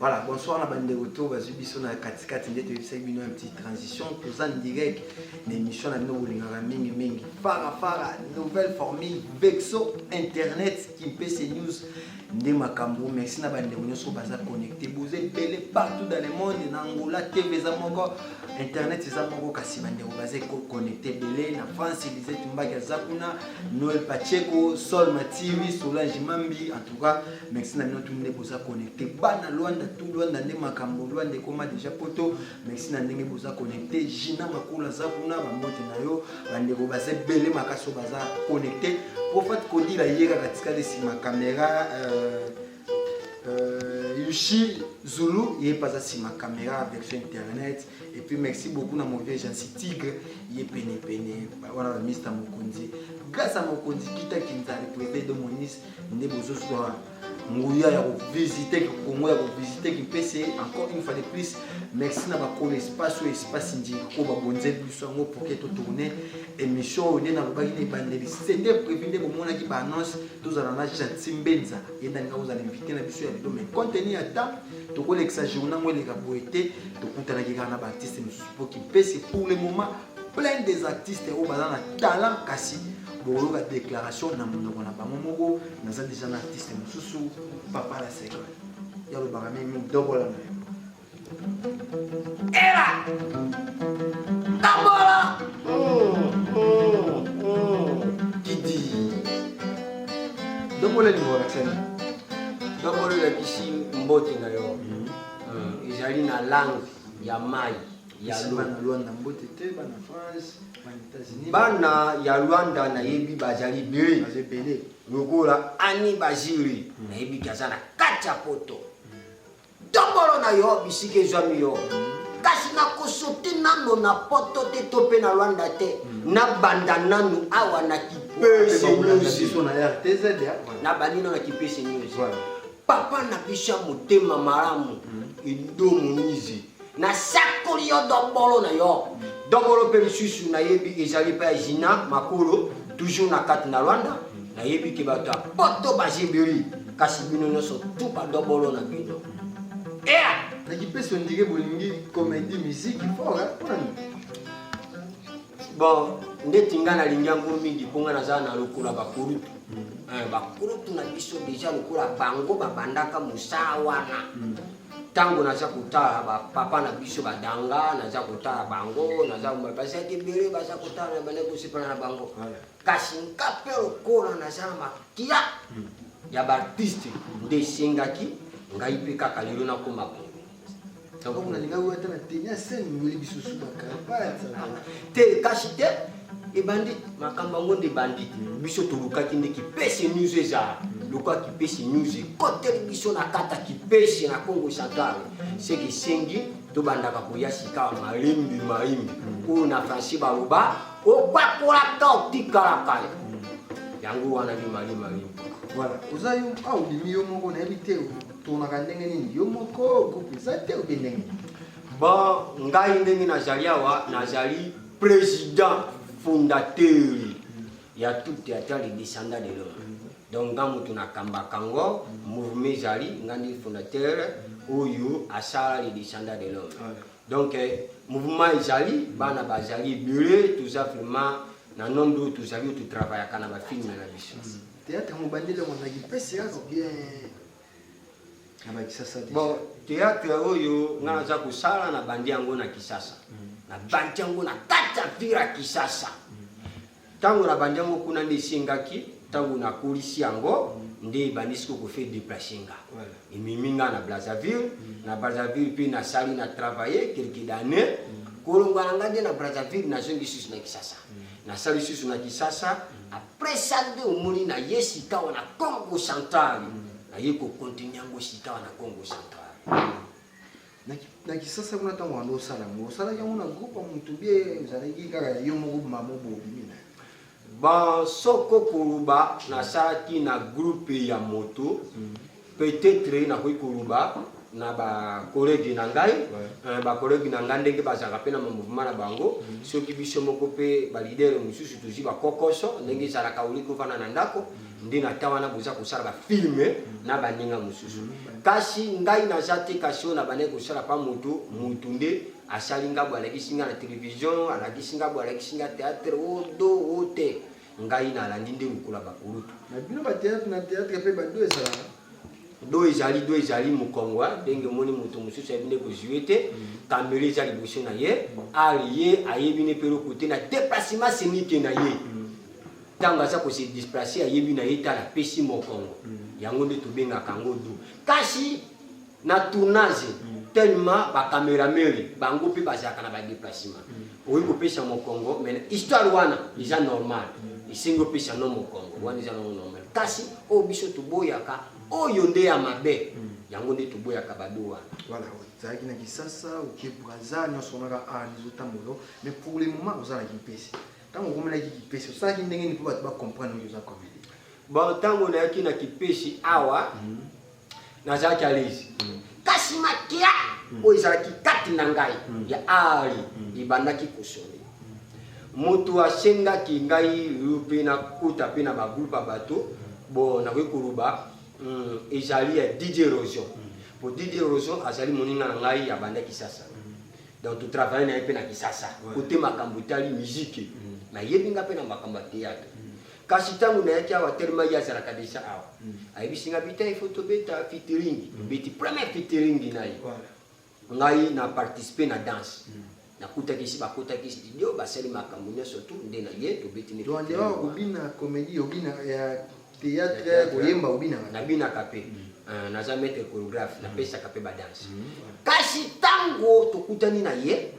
Voilà, bonsoir na bandeko to bazwi biso na katikati nde toyebisaki bino un petit transition toza en direct na émission na bino bolingaka mingi mingi fara fara nouvelle formule vexo internet kimpese news nde makambo merci na bandeko nyonso baza connecté boza ebele partout dans le monde na angola tv eza moko internet eza moko kasi bandeko baza connecté ebele na france lisette mbaki aza kuna noel pacheco sol matiwi solange mambi en tout cas merci na bino tu nde boza connecte bana lwanda tu lwanda nde makambo lwanda ekoma deja poto merci na ndenge boza connecte jina makula aza kuna bambote na yo bandeko baza ebele makasi oyo baza connecte profate kodila ye kaka tikali nsima kamera euh, euh, yushi zulu ye mpe aza nsima kamera version internet epuis merci beaucoup na mauvais jansi tigre ye penepene wana bamista mokonzi grâce a mokonzi kita kinzali président de monis nde bozozwa nguya ya kovisite kongo ya kovisite kimpese encore une fois de plus merci na bakolo espace oyo espace ndiko babonzeli biso yango pourke totourne émission oyo nde nalobaki na ebandeli sete prévu nde bomonaki baannonce tozala na janti mbenza ye ndanga ozala invité na biso ya lelo mais contenu ya temps tokolekisa journa yango eleka boye te tokutanaki kaka na baartiste mosusu mpo kimpese pour le moment plein des artistes oyo baza na talent kasi bokoyoka déclaration na monoko na bango moko naza deja na artiste mosusu papa la seka yalobaka mimi dobola na yo era dobola kidi dobola elingo olakisani dobola olakisi mbote na yo ezali na langue ya mai ya Pesa lola. bana Luanda mbote te, bana France, bana États-Unis. Bana ya Luanda nayebi bazali deux Baza ebele. lokola Annie Baziri nayebi ke aza na kati ya poto tombolo na yo bisika ezwami yo kasi nakosote nano na poto te to mpe na Luanda te nabanda nanu awa na Kipese Pesa Luanda News biso na RTZ, ya. nabandi nano na Kipese News Voilà. papa na biso ya motema malamu ido moizi nasakoli yo dombolo na yo dombolo mpe mosusu nayebi ezali mpe ya jina makolo toujours na kati na rwanda nayebi te bato ya poto bazibeli kasi bino nyonso tu badombolo na bino ea nakipesi ondike bolingi komedi miziki fort bon ndeti ngai nalingi yango mingi mpo ngai naza na lokola bakulutu eh, bakulutu na biso deja lokola bango babandaka mosala wana hmm. ntango naza kotala bapapa na biso badanga naza kotala bango naza bazalaki ebele baza kotala na banda kosepana na bango kasi nka mpe lokola naza na makia hmm. ya baartiste nde esengaki ngai mpe kaka lelo nakoma boye te kasi te ebandi makambo yango nde ebandi biso tolukaki nde kipese news ezala lokola kipese news ekoteli biso na kata kipese na congo central seke esengi tobandaka koya sikawa malembi maimbi oyo na français baloba opakolaka otikalaka yango wana nde mali maimbi voilà oza yo awa obimi yo moko nayebi te otonaka ndenge nini yo moko groupe eza te obe ndenge ba ngai ndenge nazali awa nazali president fondateur ya tout theatre le descendant de l'homme donc nga moto nakambaka yango mouvement ezali nga nde fondateur oyo asala le descendant de l'homme donc eh, mouvement ezali bana bazali ebele toza vraiment na nombre oyo tozali oyo totravayaka na bafilme na biso théâtre mobandeli yango na kipese yaka bien bon théâtre oyo nga naza kosala na bandi yango na kisasa mm. na bandi yango na kati ya vire ya kisasa ntango mm. na bandi yango kuna nde esengaki ntango nakolisi yango mm. nde ebandisi kokofe deplace nga ememi nga na brazzaville na brazzaville mpe nasali na travaille quelque d'année kolongwa na nga nde na brazzaville nazongi susu na kisasa nasali susu na kisasa Pressure nde omoni na ye sikawa na Congo Central. Mm. Na ye ko continuer yango sikawa na Congo Central. Mm. Na Kisasa kuna ntango wana osala yango osalaki yango na groupe ya moto bie ozalaki kaka ya yo moko mama bobimi na bon soko koloba nasalaki na groupe ya moto mm. peut-etre nakoki koloba na ba collègue na ngai euh, ba collègue na ngai ndenge bazalaka mpe na mouvement na bango mm. soki biso moko mpe ba leader mosusu tozwi ba kokoso ndenge ezalaka oli kovanda na ndako mm. nde na temps wana boza kosala ba film mm. na baninga mosusu kasi ngai naza te kasi oyo na bandaki kosala pa moto moto nde asali ngai boye alakisi ngai na television alakisi ngai boye alakisi ngai théâtre o oh, do o oh, te Ngai na landi nde lokola ba kulutu. Na bino ba theatre na theatre pe ba do ezalaka. Do ezali do ezali mukongwa ndenge moni moto mosusu ayebi nde kozue te kamere eza liboso na ye ar ye ayebi ne pe eloko te na deplacement senike na ye ntango aza kose displace ayebi na ye tala pesi mokongo yango nde tobengaka yango do kasi na tournage tellement ba cameraman bango mpe bazalaka na ba déplacement mm. okoki kopesa mokongo mais histoire wana eza normal mm. esengi opesa no mokongo wana eza nango normal kasi oyo biso toboyaka oyo nde ya mabe mm. yango nde toboyaka bado wana voilà ozalaki na kisasa oke braza nyonso onaka a ah, nizotambola mais pour le moment oza na kimpese ntango okomelaki kipesi osalaki ndenge nini mpo bato bacomprendre oyo oza comédie bon ntango nayaki na kipesi awa mm -hmm. nazalaki alezi kasi makila oyo ezalaki kati na ngai mm. ya ari mm. ebandaki kosone moto asengaki ngai yo mpe nakota mpe na bagroupe ya bato mm. bo nakoki koloba ezali ya didier rosion po didier rosion azali moninga na ngai ya banda kisasa donc totravaille na ye mpe na kisasa kote makambo etali miziki nayebi ngai mpe na makambo ya théâtre kasi ntango nayaki awa telema ye azalaka deja awa mm. ayebisi nga bita ifo tobeta fitiringi mm. tobeti première fitiringi na ye ngai na participe na danse mm. nakutaki esi bakotaki studio basali makambo nyonso tu nde na ye tobeti neobina comédie obina ya théâtre koyemba obinaka nabinaka mpe euh, naza maître chorégraphe napesaka mpe badanse kasi ntango tokutani na ye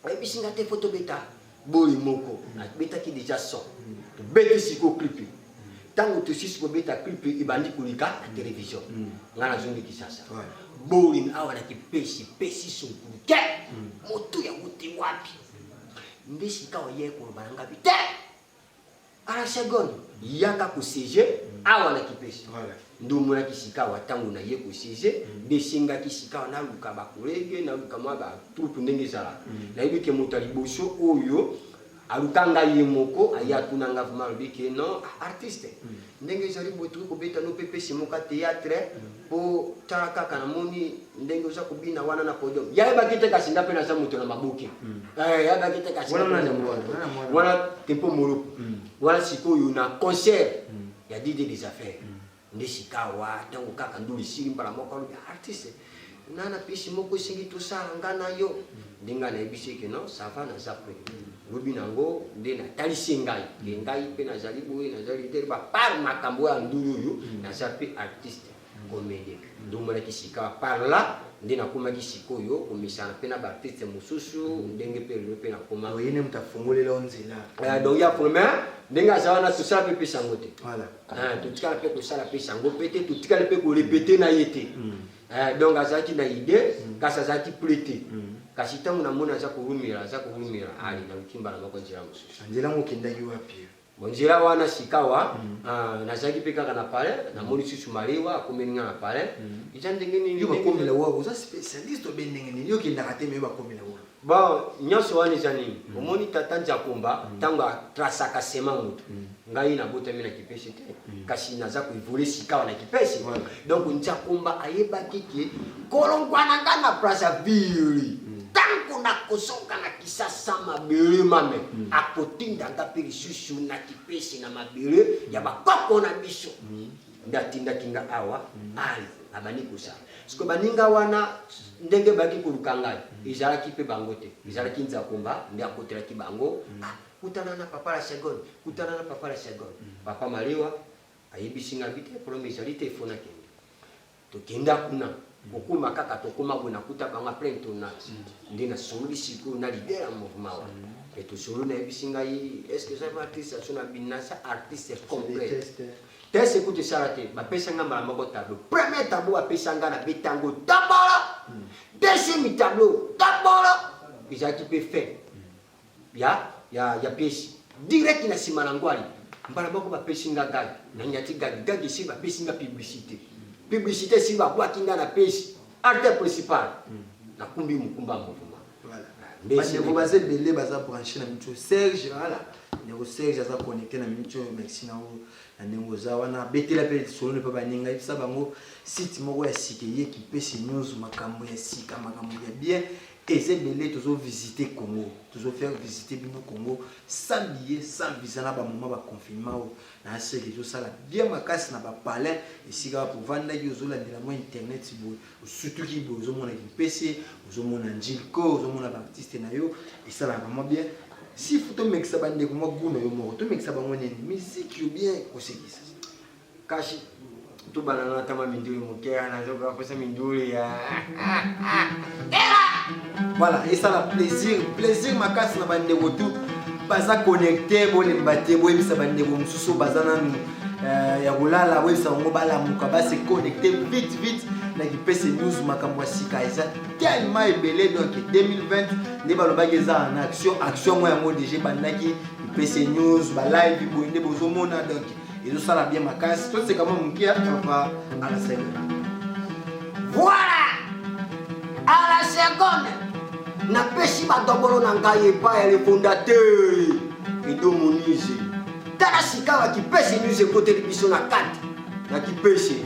Ayebisi nga te faut tobeta boye moko. Abetaki deja son. Tobeti siko clip. Tango tosisi kobeta clip ebandi koleka na television. Nga nazongi Kinshasa. Borin awa na kipesi pesi sunkulu te. Moto ya wuti wapi? Nde sikawa ye koloba na ngabi te. Arachagone, yaka kosiege awa na kipesi nde omonaki sikawa ntango na ye kosiege mm. nde esengaki sikawa naluka bakolege naluka mwa batroupe ndenge ezalaka mm. nayebi ke moto ya liboso oyo aluka ngai ye moko aye atuna ngai vraimen alobi ke non artiste mm. ndenge ezali boye tokoki kobeta no pepe simoka theatre po ta kaka namoni ndenge oza kobina wana na podium yayebaki te kasi nga mpe naza moto na maboke mm. eh, yayebaki te kasi wana tempo moluku mm. wana sikoyo na concert mm. ya dide des affaires nde sikawa ntango kaka ndulu esili mbala moko alobi artiste Nga na pesi moko esengi tosala nga na yo. Nde nga nayebisi ye ke non, ça va naza prêt. Lobi na ngo nde natalisi ye ngai. Ke ngai mpe nazali boye, naza leader ba par makambo ya ndulu oyo, naza mpe artiste comedien. Nde omonaki sikawa par là nde nakomaki sikoyo komesana mpe na ba artistes mosusu ndenge mpe lelo mpe nakoma. Donc ye nde moto afungoleli yo nzela. Donc ye afungoli mais ndenge aza wana tosala mpe epesi yango te. Voilà. Ah, totikala mpe kosala mpe sango mpe te totikali mpe korepete na ye te mm. eh, donc azalaki na idee mm. kasi azalaki ple te mm. kasi ntango namoni aza kowumela aza kowumela ali naluki mbala moko nzela mosusu nzela yango okendaki wapi bonzela wana sikawa ah, nazalaki mpe kaka na palais namoni susu malewa akomeli nga na palais eza ndenge nini bakomela wa oza spécialiste obe ndenge nini okendaka te meyo bakomela wa Bon, nionso wana eza nini? Mm. Omoni tata Nzakomba mm. tango a trasaka sema moto. Mm. Ngai nabotami na kipese te, mm. kasi naza ko evoluer sikawa na kipese. Ouais. Donc Nzakomba ayebaki ke kolongwa na nga na Brazzaville. Mm. Tango nakozonga na Kisasa mabele mame mm. akotinda nga mpe lisusu na kipese na mabele ya bakoko na biso. Mm. nde atindaki nga awa ayi abandi kosala siko baninga wana ndenge baki koluka ngai ezalaki mpe bango te ezalaki nzakomba nde akotelaki bango mm. ah, kutana na papa la seconde kutana na papa la seconde mm. papa malewa ayebisi ngai bite problème ezali te efona kende Tokenda kuna kokoma kaka tokoma boye nakuta bango apres tournage mm. nde nasololi sikoyo na leader ya mouvement wana mm. mpe tosololi nayebisi ngai estce eza artiste aso na binasa artiste complet tese kutu esala te bapesa ngai mbala moko tableau premier tableau bapesa ngai na betango tabala mm. deuxième tableau tabala ezalaki mpe fin ya ya ya piesi direct na sima na ngwali mbala moko bapesi nga gag na nyati gag gag esi bapesi nga publicité publicité esi babwaki nga na pesi acteur principal hmm. nakumbi mokumba mouvement bandeko baza ebele baza branche na mitu serge ala ndeko serge aza connecté na minute oyo merci na yo na ndenge oza wana betela mpe lisolone mpe baninga yebisa bango site moko ya sika eye kipesi news makambo ya sika makambo ya bien Eza ebele tozo visiter Congo, tozo faire visiter bino Congo sans billet, sans visa na ba moment ba confinement oyo. Na seki ezo sala bien makasi na ba palais esika wapi ovandaki ozo landela mwa internet boye, osutuki boye ozo mona Kimpese, ozo mona Njilko, ozo mona ba artistes na yo esalaka vraiment bien. S'il faut tomekisa ba ndeko mwa gout na yo moko, tomekisa bango nini? Musique ou bien kosekisa? Kashi tubana na tama mindule mokera na zoka kosa mindule ya voilà esala plaisir plaisir makasi na bandeko tu baza connecte bolemba te boyebisa bandeko mosusu baza nanu euh, ya kolala boyebisa bango balamuka base connecte vite vite na kipese news makambo ya sika eza tellement ebele donc 2020 nde balobaki eza en action action yango yango deja ebandaki kipese news balive boye nde bozomona donc ezosala bien makasi toseka mwa moke ya papa alasene voilà à la seconde napesi badobolo na ngai epai ya le fondateur edo monise tala sikawa kipese news ekoteli biso na kati na kipese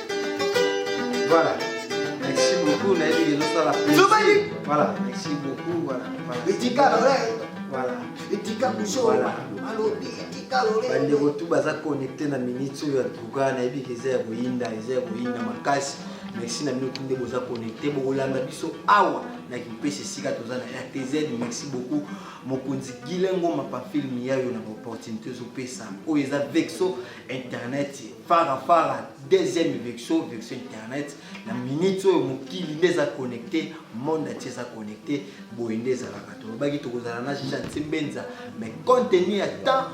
Voilà. Merci beaucoup, nayebi que ezosala Zobali. Voilà, merci beaucoup. Voilà. voilà. Etika lole. Voilà. Etika kusho. Voilà. Alobi etika lole. Bandeko tu baza connecté na minute oyo ya tuka nayebi que eza ya koyinda, eza ya koyinda makasi. merci na bino tu nde boza connecte bokolanda biso awa na kimpese esika toza na rtz merci beaucoup mokonzi gilengo mapa film yayo na baopportunité ezopesa oyo eza vexo internet fara fara deuxième vexo vexo internet na minute oyo mokili nde eza connecté monde atie eza connecté boye nde ezalaka tolobaki tokozala na chantier mbenza mais compte tenu ya temps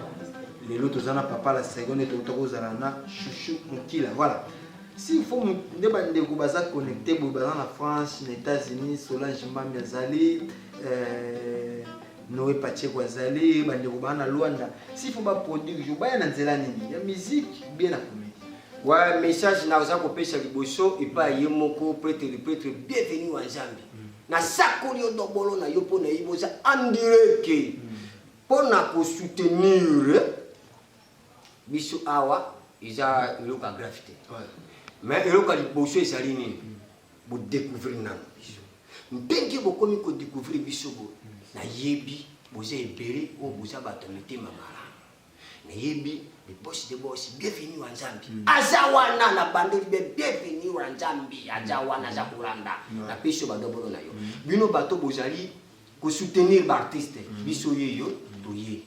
lelo toza na papa la seconde touta kozala na chouchou mokila voilà si fo nde bandeko baza connecté boye baza na france na états-unis solange mbambi azali euh, Noe Pacheco azali bandeko baa na Luanda s'il faut ba produire jour baya na nzela nini ya musique bien na comedie wa message na oza kopesa liboso epa ye moko pretre le pretre bienvenue wa Nzambe mm. na sakoli yo dobolo na yo mpo na yebi oza endure ke mm. mpo na kosoutenir biso awa eza eloko ya grave te mais eloko ya liboso ezali nini mm. Bo découvrir nanu biso. Ndenge bokomi ko découvrir biso bo nayebi boza ebele oyo boza bato ya mitema malamu. Nayebi le boss de boss bienvenue wa Nzambi. Mm. Aza wana na bandeli be bienvenue wa Nzambi. Aza mm. wana aza kolanda. Mm. Na peso ba dobono na yo. Mm. Bino bato bozali ko soutenir ba artistes. Mm. Biso yeyo toye.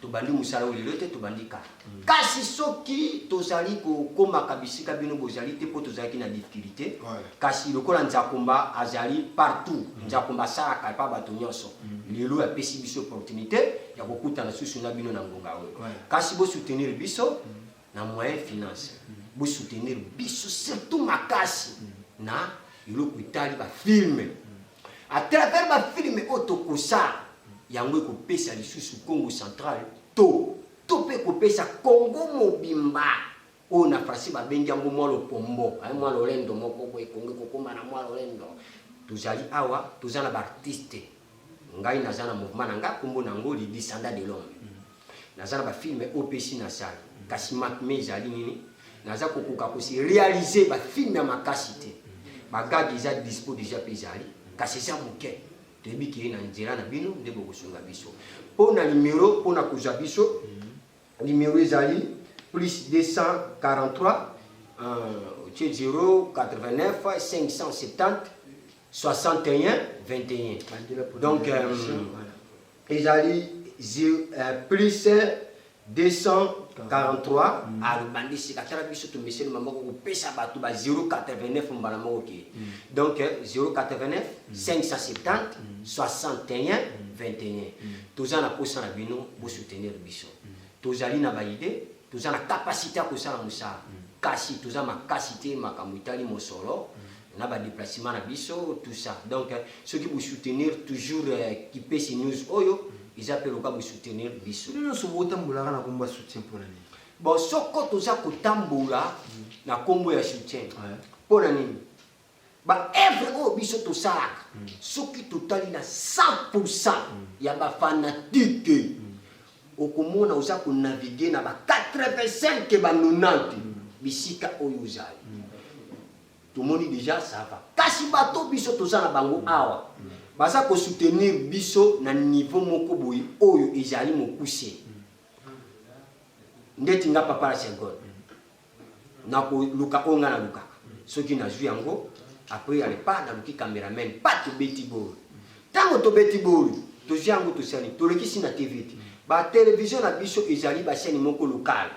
Tobandi mosala oyo lelo te, tobandi kala. Kasi soki tozali kokomaka bisika bino bozali te mpo tozalaki na difficulté, kasi lokola Nzakomba azali partout, mm. Nzakomba asalaka epa bato nyonso, mm. lelo apesi biso opportunité ya kokutana susu na bino na ngonga oyo. Kasi bosoutenir biso mm. na moyen finance, bosoutenir biso surtout makasi na eloko etali bafilme A travers ba film oyo tokosala yango ekopesa lisusu Kongo central to to mpe ekopesa Kongo mobimba oyo na français babengi yango mwa lopombo eh, mwa lolendo moko boye Kongo ekokoma na mwa lolendo. Tozali awa toza na baartiste ngai naza na mouvement na ngai nkombo na yango le descendant de l'homme naza na bafilme oyo mpe esi nasala kasi makme ezali nini naza kokoka kosi réalise bafilme ya makasi te bagage eza dispo deja mpe ezali kasi eza moke toyebi keye na nzela na bino nde bokosunga biso mpo na nimero mpo na kozwa biso nimero ezali plus 243 otie 089 570 61 21 donc euh, Ezali plus 243 abandi sika tala biso tomeseni maboko kopesa bato ba 089 mbala moko ke donc 089 570 61 21 toza na posa na bino bosoutenir biso tozali na baide toza na kapasite ya kosala mosala kasi toza makasi te makambo etali mosolo na ba déplacement na biso tout ça donc euh, soki bo soutenir toujours euh, kipesi news oyo eza pe loka bo soutenir biso bino nyonso botambolaka na kombo ya soutien mpo na nini bon soko toza kotambola na kombo ya soutien mpo na nini ba evre oyo biso tosalaka mm. soki totali na 100 pourcent mm. ya bafanatike mm. okomona oza konavigue na ba 85 ba 90 bisika oyo ozali Tomoni dejà ça va. Kasi bato biso toza na bango awa baza ko soutenir biso na niveau moko boye oyo ezali mokuse. Ndeti nga papa la Serbonne nako luka oyo nga na lukaka. Soki nazui yango après ya le pas naluki cameraman pas tobeti bolo. Tango tobeti bolo tozui yango tosali tolekisi na TV te. Ba television na biso ezali ba chaine moko locale.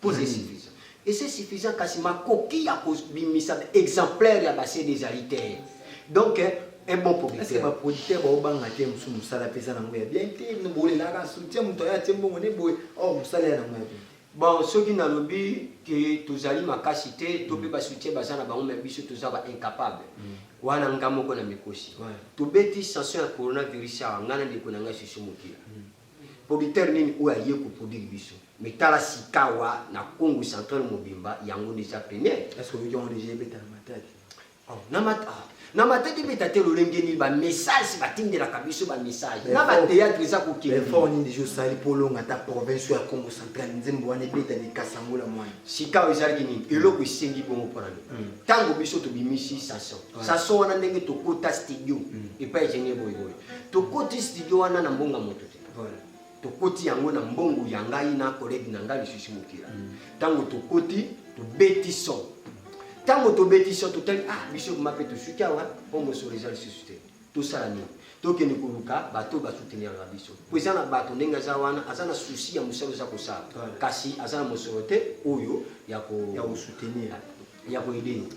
Mpo c'est suffisant. Et c'est suffisant kasi makoki ya kobimisa exemplaire ya ba CD ezali te. Donc eh, un bon producteur. Est-ce que ba producteurs ba obanga te musu musala pesa na ngoya bien te no bole la ka soutien muto ya te mbongo ne boye oh musala ya na ngoya bien. Bon soki na lobi que tozali makasi te to pe ba soutien baza na bango mais biso toza ba incapable. Mm. Wana nga moko na mikosi. Ouais. Tobeti sanction ya coronavirus awa nga na ndeko na nga Susu Mokila. Mm. Producteur nini oyo aye ko produire biso mais tala sikawa na Kongo central mobimba yango nde eza peniel. Est ce que oyoki yango dejà ebeta na Matadi? Oh, na mat ah, na Matadi ebeta te lolenge nini ba message batindelaka biso ba message na ba théâtre eza kokende. Effort nini dejà osali mpo olonga ata province ya Kongo central nzembo wana ebeta ni Kasangola mwana. Sikawa ezalaki nini eloko esengi bongo mpo na nini? Ntango biso tobimisi Sason Sason wana ndenge tokota studio epai Genie Boy Boy tokoti studio wana na mbongo ya moto te tokoti yango na mbongo ya ngai na kolege na ngai lisusu mokila ntango tokoti tobeti son ntango tobeti son totali ah biso kuma mpe tosuki awa mpo mosolo eza lisusu te tosala nini tokende koluka bato basouteniraka biso mpo eza na bato ndenge aza wana aza na susi ya mosala oza kosala kasi aza na mosolo te oyo ya kosoutenir ya ko aider nous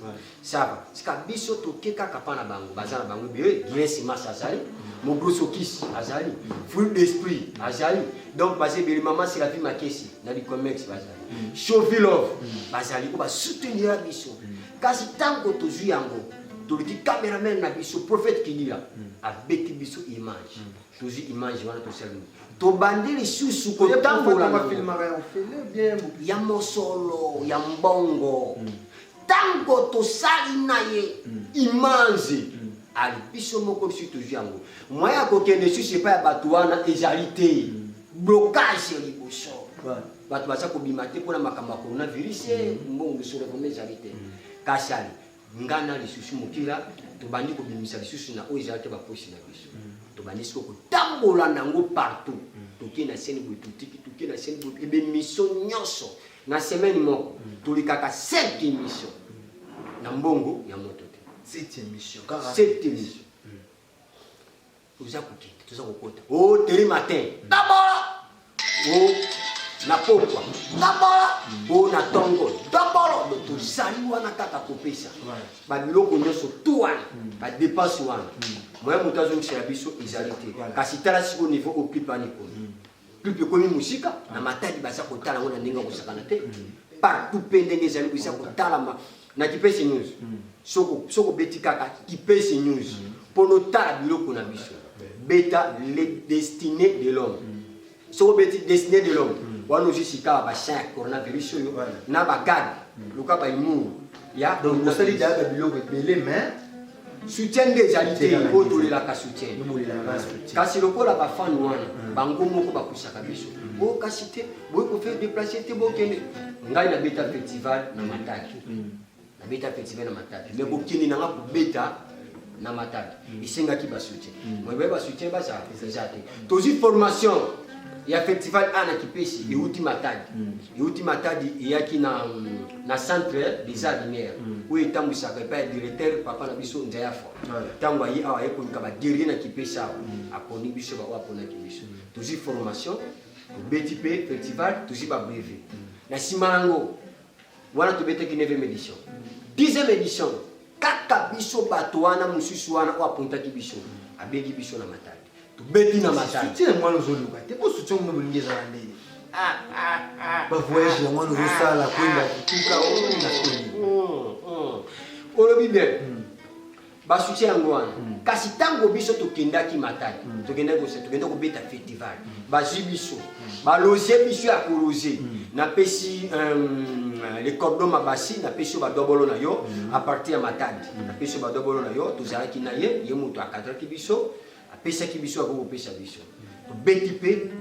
ça va tika biso toke kaka pa na bango baza na bango ebele bien simas azali mobrosokis azali fruit d'esprit azali donc baza ebele mama seravi makesi na licomex bazali mm. chovilove mm. bazali oyo basoutenira biso mm. kasi ntango tozwi yango toluki cameraman na biso prophète kinila abeti biso image tozwi image wana tosali nini tobandi lisusu kotambola ya mosolo ya mbongo hmm. ntango tosali na ye hmm. image hmm. ali biso moko biso tozwi yango moyen ya kokende lisusu epai ya bato wana ezali te blocage liboso bato baza kobima te mpona makambo ya coronavirus mbongo lisolo vraimen ezali te kasi ali Nga na lisusu mokila tobandi kobimisa lisusu na oyo ezalaki baposi na biso mm. tobandi siko kotambola nango partout mm. toke na seni boye totiki toke na seni boye ebe miso nyonso na semaine moko mm. tolikaka sept émission na mbongo ya moto te sept émission sept émission Toza kokende, toza kokota. Oh, tele matin. Dabola. Oh, na pokwa. Dabola. Oh, na tongo. Dabola. Tozali wana kaka kopesa. Ba biloko nyonso tout wana. Hmm. Ba dépense wana. Hmm. Moyen moto azongisela biso ezali te. Kasi tala siko niveau occupani kuna. Hmm. Club ekomi mosika na matadi baza kotala yango na ndenge ya kosakana te partout mpe ndenge ezali koza kotalama na kipesi news soki obeti kaka kipesi news mpo notala biloko na biso beta le destiné de l'homme soki obeti destiné de l'homme wana ozwi sikawa bachin ya coronavirus oyo na bagade luka baimuru ya osali dayaka biloko ebele mais soutien nde ezali te oyo tolelaka soutien kasi lokola bafane wana hmm. bango moko bakwisaka biso hmm. o oh, kasi te boyi kofaire déplace te bokende ngai nabeta festival na mataki hmm. nabeta festival na mataki mais bokende nanga kobeta na mataki esengaki basoutien moyebaya basoutien bazala eza te tozwi formation ya festival ana kipesi euti mataki euti matadi eyaki na, na centre des arts lumière mm. oyo etambwisaka epai ya directeur papa na biso nzayafa ntango aye awa aye koluka baguerrier na kipesa awa mm. aponi biso baoyo aponaki biso mm. tozwi formation tobeti mpe festival tozwi babreve na nsima yango wana tobetaki 9 édition 10 édition kaka biso bato wana mosusu wana oyo apontaki biso abegi biso na matadi tobeti na matala soutien mwana ozoluka te po soutien mino bolingi ezala ndenge bavoyage ya mwana ozosala koyeba tuka na soni olobi bien basuti yango wana hmm. kasi ntango biso tokendaki matali hmm. tokendaki kosa tokenda kobeta festival hmm. bazwi biso baloze biso ya koloze napesi euh, le cordon mabasi napesi yo badobolo na yo a partir ya matadi napesi yo badobolo na yo tozalaki na ye ye moto akadraki biso apesaki biso akoki kopesa biso tobeti mpe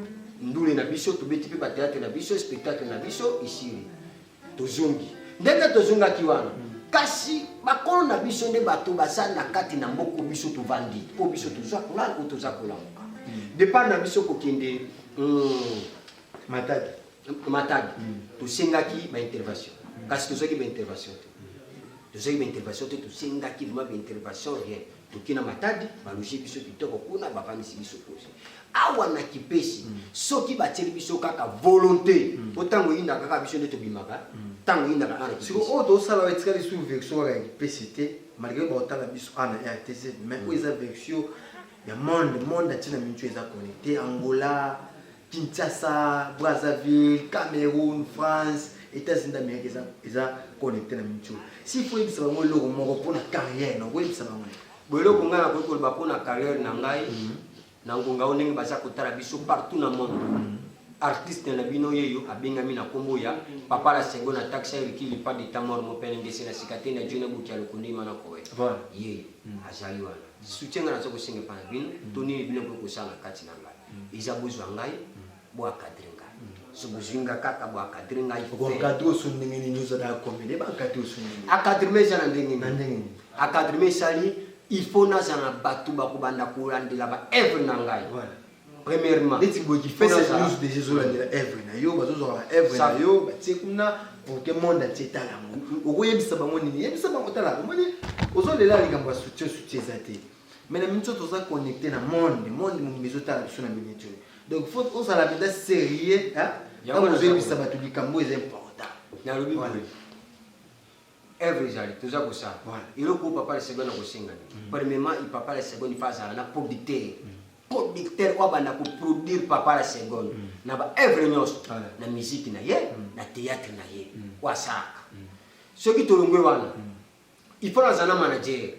ndule na biso tobeti mpe bateatre na biso spectacle na biso esili tozongi ndenge tozongaki wana kasi bakolo na biso nde bato baza na kati na mboko biso tovandi mpo biso tozwa ngai oyo toza kolamuka hmm. depart na biso kokende hmm, matadi matadi hmm. tosengaki baintervention kasi tozwaki baintervention te tozwaki baintervention te tosengaki vraimen baintervention rien Toki na Matadi, ba loger biso kitoko kuna, ba vandisi biso pose. Awa na Kipesi, mm. soki batieli biso kaka volonte, mm. po tango eyinda kaka biso nde tobimaka, mm. tango eyinda kaka na Kipesi. Siko oyo tosala etikali lisusu version kaka ya Kipesi te, malgré baotala biso ana ah, RTZ, mais oyo eza version ya monde, monde atina mintu eza connecte, Angola, Kinshasa, Brazzaville, Cameroun, France, États-Unis d'Amérique eza eza connecté na Micho. Si faut yebisa bango eloko moko mpo na carrière na koyebisa bango. Bo eloko ngai nakoki koloba mpo na carrière na ngai mhm. na ngonga oyo ndenge baza kotala biso partout na monde. Mhm. Artiste na bino yeyo abengami na kombo ya Papa la Sengo na taxi Ricky Lipa de Tamor Mopele Ngese na Sikate na Jona Buki Alokundi Mana Kowe. Voilà. Yeyo mhm. azali wana. Soutien ngai naza kosenga epai na bino to nini bino mpe kosala na kati na ngai. eza bozwa ngai bo encadre ngai so bozwi nga kaka bo encadre ngai encadre oso ndenge nini ozala ya komede ba encadre oso ndenge encadrement eza na ndenge nini encadrement esali il faut nazala na bato bakobanda kolandela ba œuvre na ngai premièrement neti boye kifesa news déjà ezolandela œuvre na yo bazozwaka ba œuvre na yo batie kuna pour que monde atie etala yango okoyebisa bango nini yebisa bango tala omoni ozolela likambo ya soutien soutien eza te mais na minute oyo toza connecte na monde monde mobimba ezotala biso na minute oyo donc faut ozala mpenza sérieux ntango ozoyebisa bato likambo oyo eza important nalobi boye œuvre ezali toza kosala eloko oyo papa lesego na kosenga mm. premièrement papa lesego nifa azala na producteur mm. producteur oyo abanda koproduire papa la seconde mm. na baœuvre nyonso na miziki na ye na théâtre na ye oyo asalaka soki tolongwe wana il faut nazala na manager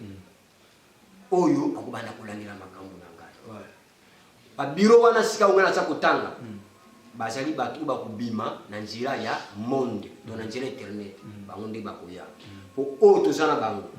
oyo akobanda kolandela makambo na ngai babiro wana sika ongai naza kotanga mm. bazali bato oyo bakobima na nzela ya monde to na nzela internet mm. bango nde bakoya mpo mm. oyo toza na bango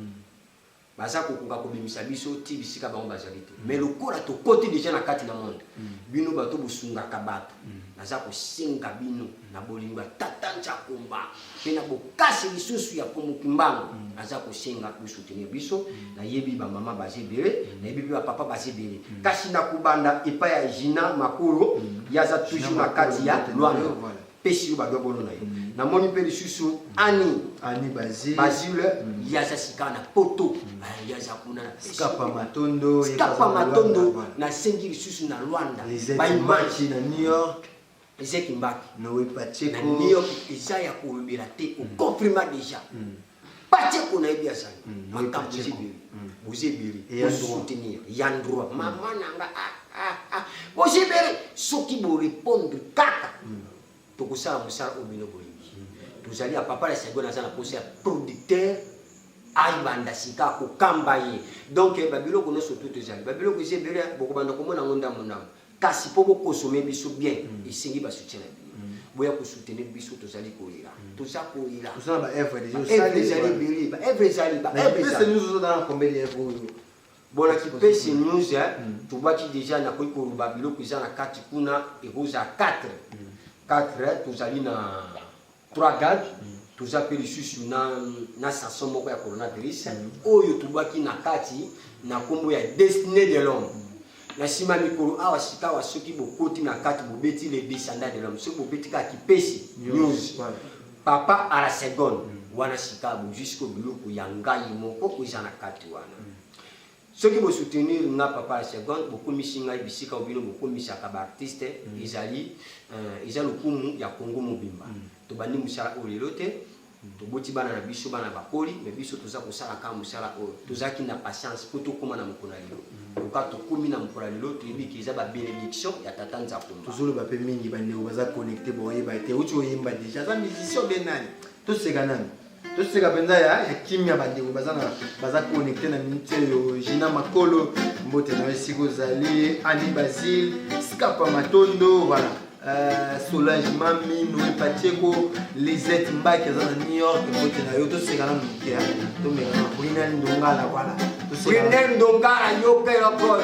baza kokoka kobimisa biso ti bisika bango bazali te mais lokola tokoti deja na kati na monde bino bato bosungaka bato naza kosenga bino na bolingo ya tata Nchakumba mpe na bokasi lisusu ya Mfumu Kimbangu mm. aza kosenga kosoutenir biso mm. nayebi bamama baza ebele mm. nayebi mpe bapapa baza ebele kasi na kobanda epai ya Gina Makolo ye aza toujours na kati ya Luanda pesi yo badobolo na yo namoni mpe lisusu ani ani bazile bazile mm. ye aza sika na poto mm. ah, ye aza kuna skapa matondo skapa matondo nasengi lisusu na rwanda baimage na new york Eze Kimbaki. Noe Pacheco. Na New York eza ya kolobela te, o confirma déjà. Mm. Pacheco na yebi azali. Mm. Makambo ezibeli. Mm. Bozibeli. Bo soutenir. Ya droit. Mm. Mama na nga ah ah ah. Bozibeli soki bo répondre kaka. Mm. Tokosala mosala oyo bino bolingi. Mm. Tozali ya papa la Saigon aza na posa ya producteur ayibanda sika akokamba ye donc eh, babiloko nyonso tu tozali babiloko eza ebele bokobanda komona yango ndambo ndambo Kasi mpo bo consommer biso bien, esengi ba soutien na bino. Boya ko soutenir biso, tozali kolela, toza kolela. Oza na ba œuvres dejà Ba œuvres osali? ezali ebele, ba œuvres ezali, ba Na œuvres Kipese ezali. News ozo tanga combien de œuvres oyo? Bon, na Kipese News, hein, tobwaki dejà, nakoki koloba biloko eza na kati kuna, ekozala 4. 4, tozali na 3 gag toza mpe lisusu na, na saso moko ya coronavirus oyo tobwaki na kati na nkombo ya destiné de l'homme na nsima ya mikolo awa sikawa soki bokoti na kati bobeti le descendant de l'homme soki bobeti kaka kipesi news papa à la seconde wana sikawa bozwi siko biloko ya ngai moko oyo eza na kati wana Soki bo soutenir nga papa la seconde bokomisi ngai bisika oyo bino bokomisaka ba artistes mm. ezali euh, eza lokumu ya Congo mobimba mm. tobandi musala oyo lelo te mm. toboti bana na biso bana bakoli mais biso toza kosala kaka musala oyo tozalaki na patience mpo tokóma na mokolo ya lelo loka tokómi na mokolo ya lelo toyebi ke eza ba bénédiction ya tata nzakomba tozoloba mpe mingi bandeko baza connecte boyeba te uti oyemba deja aza musicien obe nani toseka nani toseka mpenza ya ya kimya bandeko baza na baza connecte na minute oyo gina makolo mbote na yo esika ozali ani basile skapa matondo voilà euh, solange mami noe patieko lisette mbaki aza na new york mbote na yo toseka na moke ya tomeka na brinel ndongala voilà toseka Brunel Ndongala yo pe lokolo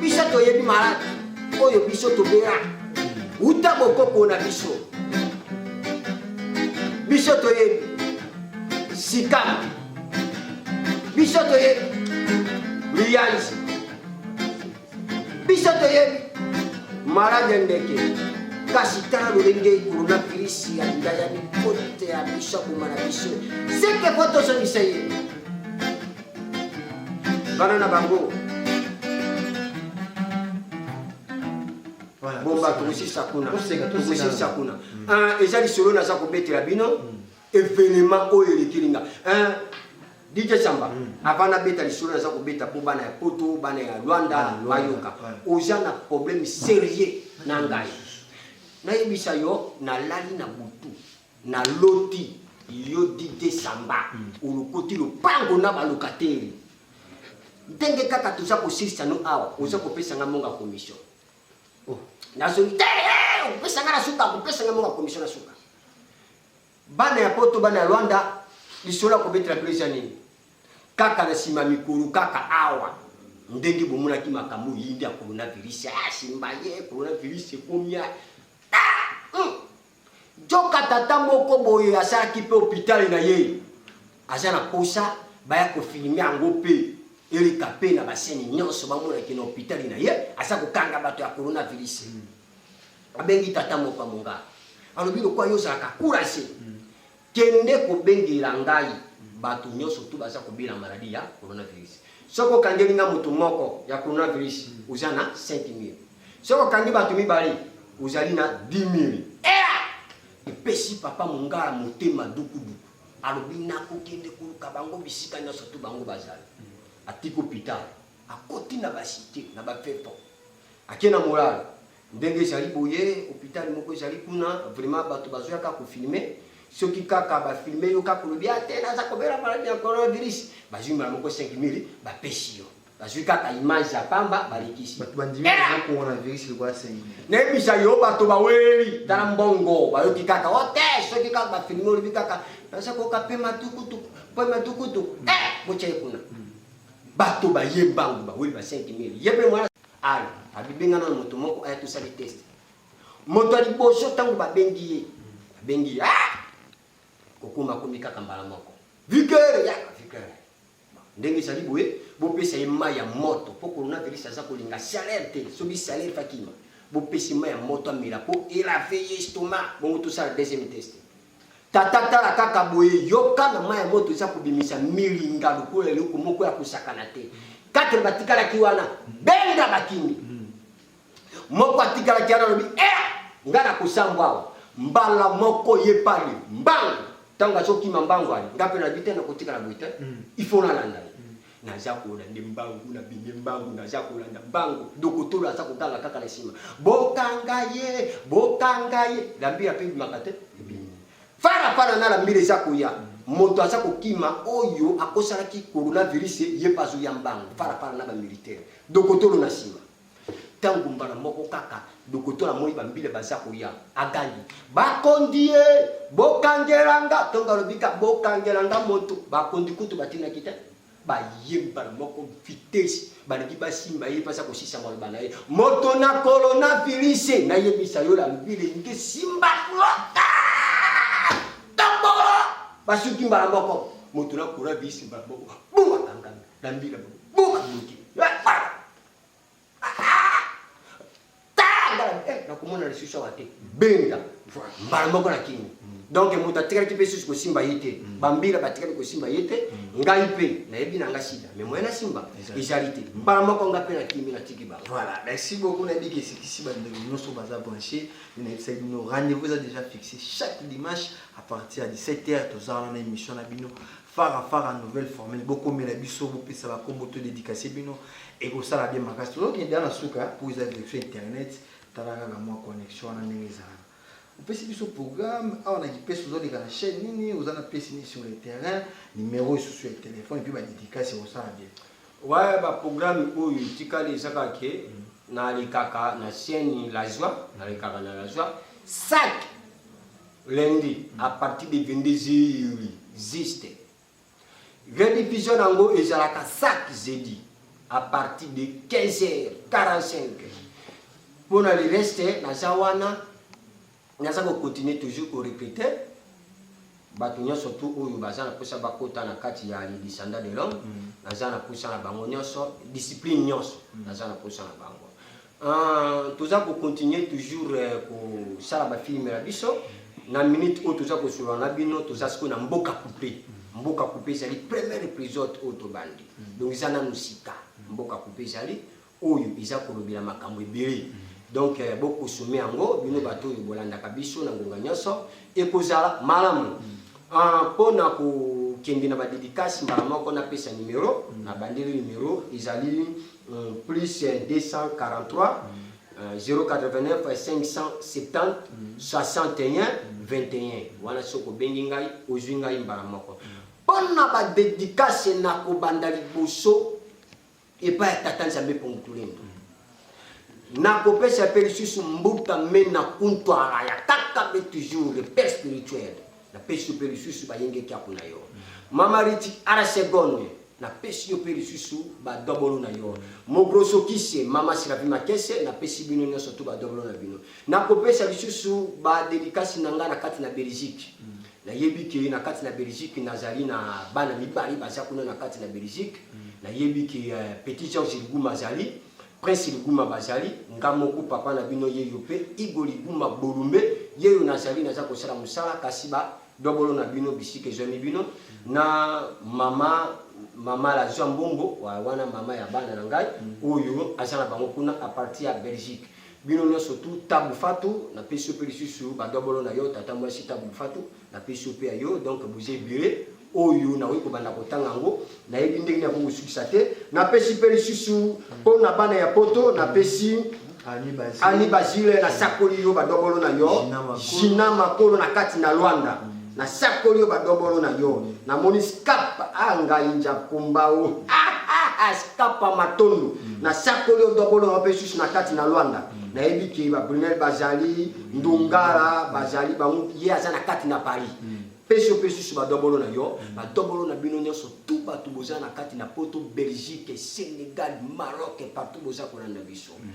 biso toyebi maladi oyo biso tobela uta bokoko na biso biso toyebi sikama biso toyebi liyanzi biso toyebi maladi ya ndeke kasi tala lolenge coronavirus ya ndayani kote ya biso aboma na biso seke po tozongisa ye bana na bango bomba tokosisa kuna tokosisa kuna hmm. eza lisolo naza kobetela bino hmm. evenema oyo elekeli nga dj samba hmm. avant nabeta lisolo naza kobeta mpo bana ya poto bana ya rwanda bayoka oza na problème sérieux na ngai nayebisa yo nalali na butu Na loti yo Didier Samba olokoti lopango na ba locataires ndenge kaka toza kosilisa no awa oza kopesa nga monga commission oh. nazongi te eh, opesa nga na suka kopesa nga monga commission na suka bana ya poto bana ya Rwanda lisolo ya kobetela bino eza nini kaka na nsima mikolo kaka awa ndenge bomonaki makambo yindi ya coronavirus asimba ah, ye coronavirus ekomia Joka tata moko boye asalaki mpe hopitale na ye, aza na posa baya kofilme yango mpe eleka mpe na baseni nyonso bamonaki na hopitale na ye aza kokanga bato ya coronavirus. Abengi tata moko ya mongala, alobi lokola yo ozalaka kurase, Kende kobengela ngai bato nyonso tout baza kobela maladie ya coronavirus. Soki okangeli nga moto moko ya coronavirus, oza na 5000. Soki okangi bato mibale, ozali na 10000. Ela! Epesi Papa Mungala motema dukuduku. Alobi nakokende koluka bango bisika nyonso tout bango bazali. Atiko Peter, akoti na ba cite, na ba fefo. Ake na morale ndenge ezali boye hopital moko ezali kuna vraiment bato bazoya kaka kofilme soki kaka bafilme yo kaka olobi ate ah, naza kobela maladi ya coronavirus bazwi mbala moko 5000 bapesi yo bazwi kaka image ya pamba balekisi nayebisa yo bato baweli tala mbongo bayoki kaka o oh, te soki kaka bafilme olobi kaka naza koyoka mpe matukutuku mpe matukutuku eh, botya ye kuna Bato baye mbangu baweli ba 5000 ye mpe mwana aya abibengana na moto moko aya tosali test moto ya liboso ntango babengi ye babengi ye ah! kokoma akomi kaka mbala moko vikere yaka vikere ndenge ezali boye bopesa ye mai ya moto mpo coronavirus aza kolinga salere te soki salere fakima bopesi mai ya moto amela mpo elave ye estoma bongo tosala deuxième test Tata tala kaka boye yoka na mai ya moto eza kobimisa milinga lokola eloko moko ya kosakana te. Katele batikalaki wana benga bakimi hmm. moko atikalaki wana alobi e eh, ngai nakosambwa awa mbala moko ye pale mbangu ntango azokima mbangu ani ngai mpe nayebi te nakotikala boye te hmm. ifo nalanda ye Naza kola nde mbangu na bimi mbangu naza kolanda mbangu dokotolo aza koganga kaka na nsima bokanga ye bokanga ye lambira mpe ebimaka te ebimi fara fara na lambira eza koya moto aza kokima oyo akosalaki coronavirus ye mpe azoya mbangu fara fara na bamilitaire dokotolo na nsima Tango mbala moko kaka dokotola amoni ba mbila baza koya, agangi bakondi ye bokangela nga tonga alobi ka bokangela nga moto. Bakondi kutu batindaki te baye mbala moko vitesse balingi basimba ye baza kosisa maloba na ye moto na coronavirus nayebisa yo la mbila elingi esimba lota tambolo basuki mbala moko moto na coronavirus mbala moko buma kangami na mbila buma moke nakomona lisusu awa te benda mbala moko na kini donc moto atikaki mpe susu kosimba ye te mm. bambila batikaki kosimba ye te mm. ngai mpe nayebi na nga sida mais moyen nasimba ezali te mbala moko nga mpe nakimi natiki bango voilà merci beaucoup nayebi ke esikisi bandeko nyonso baza branche nayebisaki bino rendez-vous eza déjà fixé chaque dimanche à partir ya 17 heures toza wana na émission na bino Fara Fara nouvelle formule bokomela biso bopesa ba kombo to dedicace bino ekosala bien makasi tozokende ya na suka mpo eza verifie internet tala kaka mwa connexion wana ndenge ezalaka opesi biso programme awa na kipesi ozoleka na chaîne nini oza na pesi nini sur le terrain numero esusu ya telefone mpe badedicace ekosala bien ouais baprogramme oyo etikali eza kaka ke mm. nalekaka na chaîne la joie nalekaka na la joie sak Lundi à partir de 22 heures juste. Rediffusion nango ezalaka chaque jeudi à partir de 15 heures 45. Pour le reste naza wana naza ko continuer toujours ko répéter bato nyonso tu oyo baza na mposa bakota na kati ya le descendant de l'homme mm. naza na mposa na bango nyonso discipline nyonso mm. naza na mposa na bango Uh, toza ko continuer toujours uh, kosala ba film na biso na minute oyo toza kosolola na bino toza sikoyo na mboka coupe mboka coupe ezali première épisode oyo tobandi mm. donc eza nanu sika mboka coupe ezali oyo eza kolobela makambo ebele donc eh, bokosome yango bino bato oyo bolandaka biso na ngonga nyonso ekozala malamu mpo mm. ah, na kokende na badedikasi mbala moko napesa nimero mm. na bandeli nimero ezali plus 243-089-570-61-21 wana soki obengi ngai ozwi ngai mbala moko mpo na badedikase na kobanda liboso epai ya tata nzambe pongutulendo nakopesa mpe lisusu mbuta mena kuntwala ya kaka be toujours le père spirituel napesi yo mpe lisusu bayengekaku na yo mama riti arasegonde napesi yo mpe lisusu badobolo na yo mogrosokise mama sirapi makese napesi bino nyonso to badobolo na bino nakopesa lisusu badelikasi na ngai na kati na belgique mm. nayebi ke na kati na belgique nazali na bana mibale baza kuna na kati na belgique mm. nayebi ke uh, petit george liguma azali Prince Liguma Bazali nga moko papa na bino yeyo pe Igo Liguma Bolumbe yeyo nazali naza kosala mosala kasi ba dobolo na bino bisika ezwami bino na mama mama la zwa mbongo wa wana mama ya bana na ngai oyo aza na bango kuna a partir ya Belgique bino nyonso tu Tabu Fatu napesi yo pe lisusu ba dobolo na yo tata mwasi Tabu Fatu napesi yo mpe ya yo donc boza ebele oyo nakoki kobanda kotanga yango nayebi ndenge nini yango kosukisa te napesi mpe lisusu mpo na bana ya poto napesi ani bazile nasakoli yo badobolo na yo jina makolo na kati na lwanda nasakoli yo badobolo na yo namoni scap a ah, ngai njakumbao scapa ah, ah, matondo mm. nasakoli yo dobolo na yo mpe lisusu na kati na lwanda mm. nayebi ke babrunel bazali ndongala bazali bango ye aza na kati na paris mm. pesi yo pesi su badobolo na yo mm. badobolo na bino nyonso tu bato boza na kati na poto belgique sénégal maroc partout boza kolanda biso mm.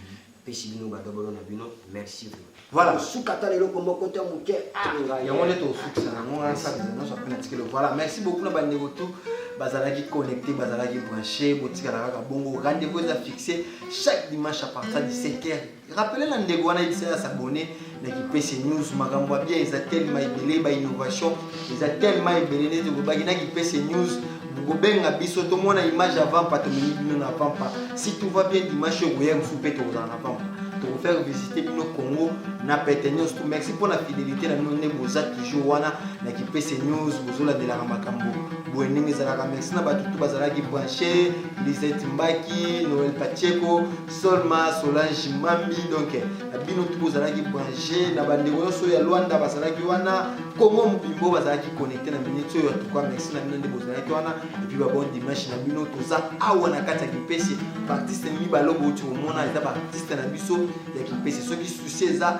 pesi bino badobolo na bino merci voilà suka ata leloko moko te moke ah. yango nde tosukisa nango wana sante nyonso ape na tikelo voilà merci beaucoup na bandeko tout bazalaki connecté bazalaki branché botikala kaka bongo rendez-vous eza fixé chaque dimanche à partir du 7 heures Rappeler na ndeko wana yebisa ya s'abonner na kipese news makambo ya bien eza tellement ebele ba innovation eza tellement ebele nde tolobaki na kipese news bokobenga biso tomona image ya vampa tomemi bino na vampa si tout va bien dimanche oyo koya mosusu mpe tokozala na vampa tokofaire visite bino congo na pete nyonso to merci mpo na fidelité na bino nde boza toujours wana na kipese news bozolandelaka makambo boye ndenge ezalaka merci na bato tu bazalaki branche lisette mbaki noel pacheco solma solange mambi donc bino tout bozalaki branche na bandeko nyonso ya lwanda bazalaki wana congo mobimbo bazalaki connecte na minute oyo atuka merci na bino nde bozalaki wana epuis babon dimanche na bino toza awa na kati ya kipesi baartiste mibale obouti komona eza baartiste na biso ya kipesi soki susi eza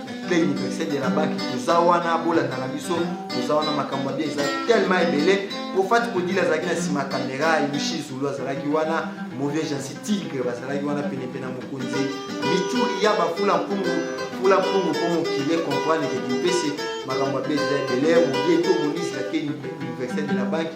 ple universel ya labaki toza wana bolandaka biso toza wana makambo ya bie eza tellement ebele mpo fati kodila azalaki na nsima kamera yushi zulu azalaki wana mauvais jansi tigre bazalaki wana penepene ya mokonzi mituri ya bafula mpungu fula mpungu mpo mokili ekomprendre ke kipese makambo ya bie eza ebele mobie to monisi lakeni universel de la banque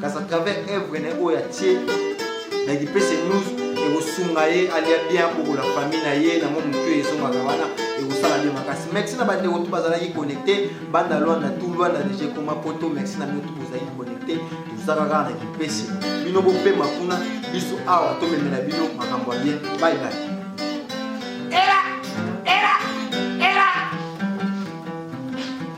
kasi à travers œuvre na ye oyo atie na kipese news ekosunga ye alia bien akokola famille na ye na mwa motu ezongaka wana ekosala bien makasi merci na bandeko tu bazalaki connecte banda lwanda tu lwanda deja ekoma poto merci na bino tu bozalaki connecte tozaka kaka na kipese bino bopema kuna biso awa tomemela bino makambo ya bien bye bye